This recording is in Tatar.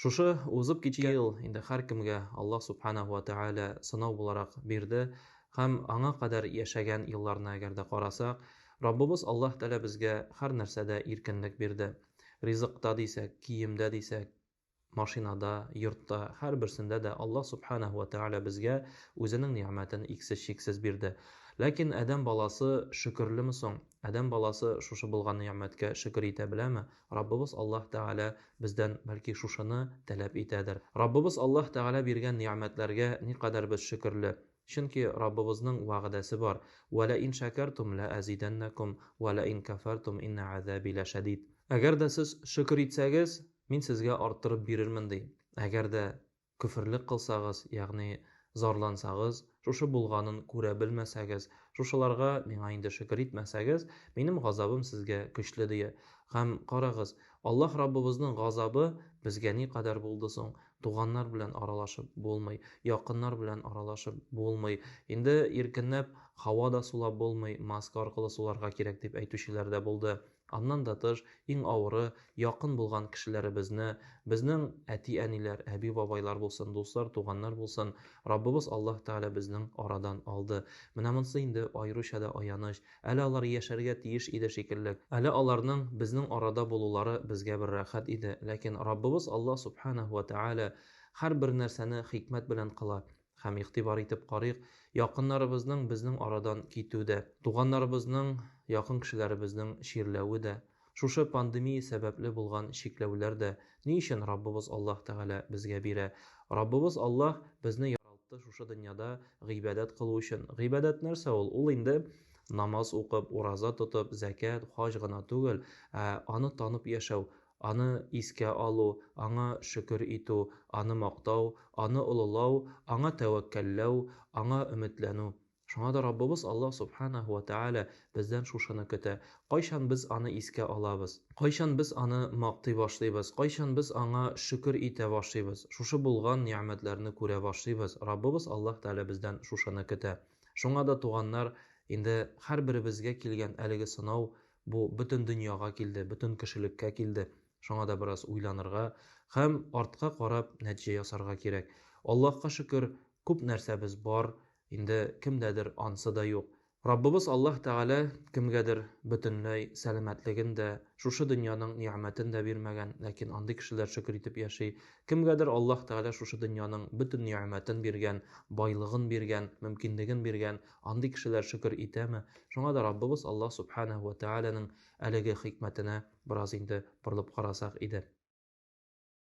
Шушы узып киткән ел инде һәркемгә Аллаһ Сүбхәнәһү вә Тәгалә сынау буларак бирде һәм аңа кадәр яшәгән елларны әгәр дә карасак, Раббыбыз Аллаһ Тәгалә безгә һәр нәрсәдә иркенлек бирде. Ризыкта дисәк, киемдә дисәк, машинада, йортта, һәрберсендә дә Аллаһ Сүбхәнәһү вә Тәгалә безгә Үзенең нигъмәтен иксез-чиксез бирде. Ләкин адәм баласы шөкерлеме соң? Адәм баласы шушы булган нигъмәткә шөкер итә беләме? Раббыбыз Аллаһ Тәгалә бездән, бәлки, шушыны таләп итәдер. Раббыбыз Аллаһ Тәгалә биргән нигъмәтләргә никадәр без шөкерле! Чөнки Раббыбызның вәгъдәсе бар, Вә лә ин шәкәртүм лә әзидәннәкүм, вә лә ин кәфәртүм иннә гәзәби лә шәдид. Әгәр дә сез шөкер итсәгез, Мин сезгә арттырып бирермен, ди. Әгәр дә Көферлек кылсагыз, ягъни зарлансагыз, шушы булганын күрә белмәсәгез, шушыларга миңа инде шөкер итмәсәгез, минем газабым сезгә көчле, ди. Һәм, карагыз, Аллаһ Раббыбызның газабы безгә никадәр булды соң? Туганнар белән аралашып булмый, якыннар белән аралашып булмый, инде иркенләп һава да сулап булмый, маска аркылы суларга кирәк, дип әйтүчеләр дә булды. Аннан да тыш, иң авыры, якын булган кешеләребезне, безнең әти-әниләр, әби-бабайлар булсын, дуслар, туганнар булсын, Раббыбыз Аллаһ Тәгалә безнең арадан алды. Менә монысы инде аеруча да аяныч. Әле алар яшәргә тиеш иде шикелле. Әле аларның безнең арада булулары безгә бер рәхәт иде. Ләкин Раббыбыз Аллаһ Сүбхәнәһү вә Тәгалә һәрбер нәрсәне хикмәт белән кыла. Һәм игътибар итеп карыйк, якыннарыбызның безнең арадан китү дә, туганнарыбызның, якын кешеләребезнең чирләве дә, шушы пандемия сәбәпле булган чикләүләр дә ни өчен Раббыбыз Аллаһ Тәгалә безгә бирә? Раббыбыз Аллаһ безне яралтты шушы дөньяда гыйбадәт кылу өчен. Гыйбадәт нәрсә ул? Ул инде намаз укып, ураза тотып, зәкят, хаҗ гына түгел, ә аны танып яшәү, Аны искә алу, Аңа шөкер итү, Аны мактау, Аны олылау, Аңа тәвәккәлләү, Аңа өметләнү. Шуңа да Раббыбыз Аллаһ Сүбхәнәһү вә Тәгалә бездән шушыны көтә. Кайчан без Аны искә алабыз? Кайчан без Аны мактый башлыйбыз? Кайчан без Аңа шөкер итә башлыйбыз? Шушы булган нигъмәтләрне күрә башлыйбыз. Раббыбыз Аллаһ Тәгалә бездән шушыны көтә. Шуңа да, туганнар, инде һәрберебезгә килгән әлеге сынау Бу бөтен дөньяга килде, бөтен кешелеккә килде. Шуңа да бераз уйланырга һәм артка карап нәтиҗә ясарга кирәк. Аллаһка шөкер, күп нәрсәбез бар, инде кемдәдер ансы да юк. Раббыбыз Аллаһ Тәгалә кемгәдер бөтенләй сәламәтлеген дә, шушы дөньяның нигъмәтен дә бирмәгән, ләкин андый кешеләр шөкер итеп яши. Кемгәдер Аллаһ Тәгалә шушы дөньяның бөтен нигъмәтен биргән, байлыгын биргән, мөмкинлеген биргән, Андый кешеләр шөкер итәме? Шуңа да Раббыбыз Аллаһ Сүбхәнәһү вә Тәгаләнең әлеге хикмәтенә бераз инде борылып карасак иде.